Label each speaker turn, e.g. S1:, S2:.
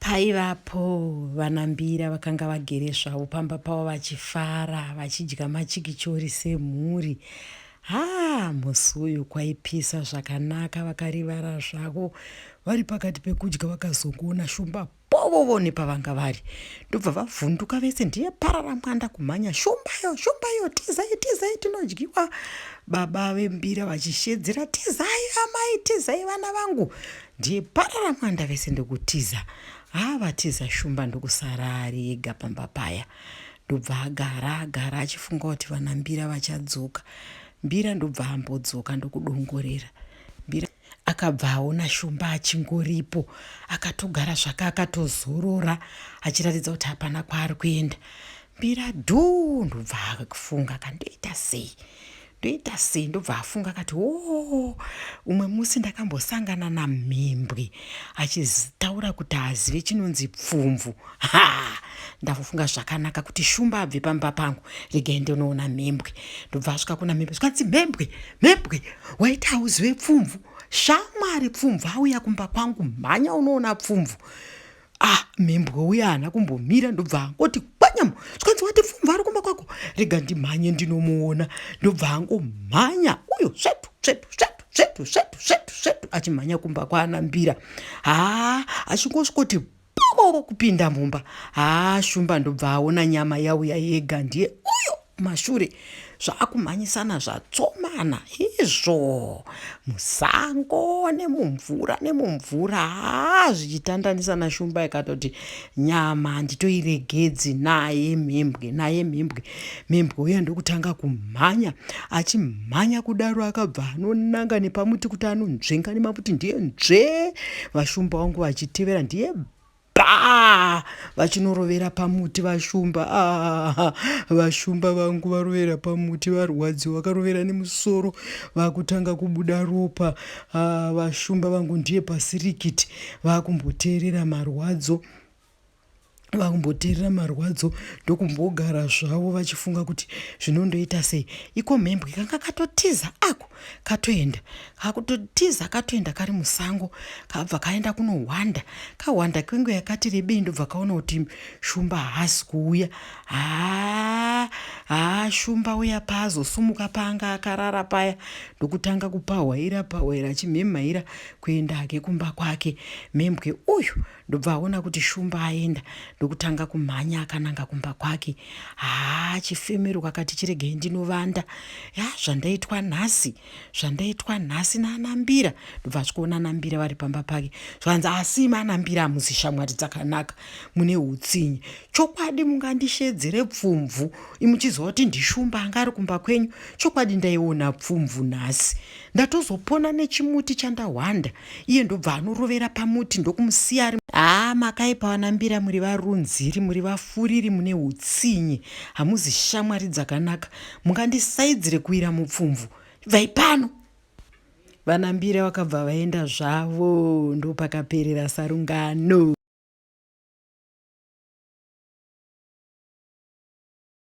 S1: Paivapo vana Mbira vakanga vagere zvavo pamba pavo vachifara vachidya machikichori semhuri. Haa musi uyu kwaipisa zvakanaka vakarivara zvavo vari pakati pekudya vakazongoona shumba povovo nepavanga vari ndobva vavhunduka vese ndiye parara mwanda kumhanya shumbayo shumbayo tizai tizai tinodyiwa baba vembira vachishedzera tizai amai tizai vana vangu ndiye parara mwanda vese ndokutiza haa vatiza shumba ndokusara ari ega pamba paya ndobva agara agara achifunga kuti vana mbira vachadzoka mbira ndobva ambodzoka ndokudongorera mbira akabva aona shumba achingoripo akatogara zvake akatozorora achiratidza kuti hapana kwaari kuenda mbira dhuu ndobva akufunga kandoita sei ndoita sei ndobva afunga akati woo umwe musi ndakambosangana namhimbwi achitaura kuti haazive chinonzi pfumvu ha ndavofunga zvakanaka kuti shumba abve pamba pangu regai ndonoona mhembwe ndobva asvika kuna mhembwe zvikanzi mhembwe mhembwe waita hauzive pfumvu shamwari pfumvu auya kumba kwangu mhanya unoona pfumvu ah mhembwe uye haana kumbomira ndobva angoti kwanyama zvikanzi wati pfumva ari kumba kwako rega ndimhanye ndinomuona ndobva angomhanya uyo svetu svetu svetu svetu svetu svetu svetu achimhanya kumba kwaana mbira haa achingosvikoti boo kupinda mumba haa shumba ndobva aona nyama yauya yega ndiye uyo kumashure zvaakumhanyisana zvatsomana izvo musango nemumvura nemumvura haa zvichitandanisa nashumba ikatoti nyama handitoiregedzi naye mhembwe naye mhembwe mhembwe uya ndokutanga kumhanya achimhanya kudaro akabva anonanga nepamuti kuti anonzvenga nemaputi ndiye nzvee vashumba wangu vachitevera ndiye paa vachinorovera pamuti vashumba aa vashumba vangu varovera pamuti varwadziwa vakarovera nemusoro vakutanga kubuda ropa aa vashumba vangu ndiye pasirikiti vakumboteerera marwadzo vakumboteerera marwadzo ndokumbogara zvavo vachifunga kuti zvinondoita sei iko mhembwe kanga katotiza ako katoenda kakutotiza katoenda kari musango kabva kaenda kunohwanda kahwanda kwenguva yakati rebei ndobva kaona kuti shumba haasi kuuya haa haa shumba uya paazosumuka paanga akarara paya ndokutanga kupahwaira pahwaira achimhemhaira kuenda hake kumba kwake mhembwe uyu ndobva aona kuti shumba aenda ndokutanga kumhanya akananga kumba kwake haa chifemero kwakati chiregei ndinovanda ya zvandaitwa nhasi zvandaitwa nhasi naanambira ndobva zvikuona anambira vari pamba pake zvanzi asi imi anambira hamuzi shamwari dzakanaka mune utsinye chokwadi mungandishedzere pfumvu imuchiziva kuti ndishumba anga ari kumba kwenyu chokwadi ndaiona pfumvu nhasi Ndatozopona nechimuti chandahwanda iye ndobva anorovera pamuti ndokumusiya ari haa ah, makaipa vanambira muri varunziri muri vafuriri mune utsinye hamuzi shamwari dzakanaka mungandisaidzire kuwira mupfumvu ibvai pano vanambira vakabva vaenda zvavo ndopakaperera sarungano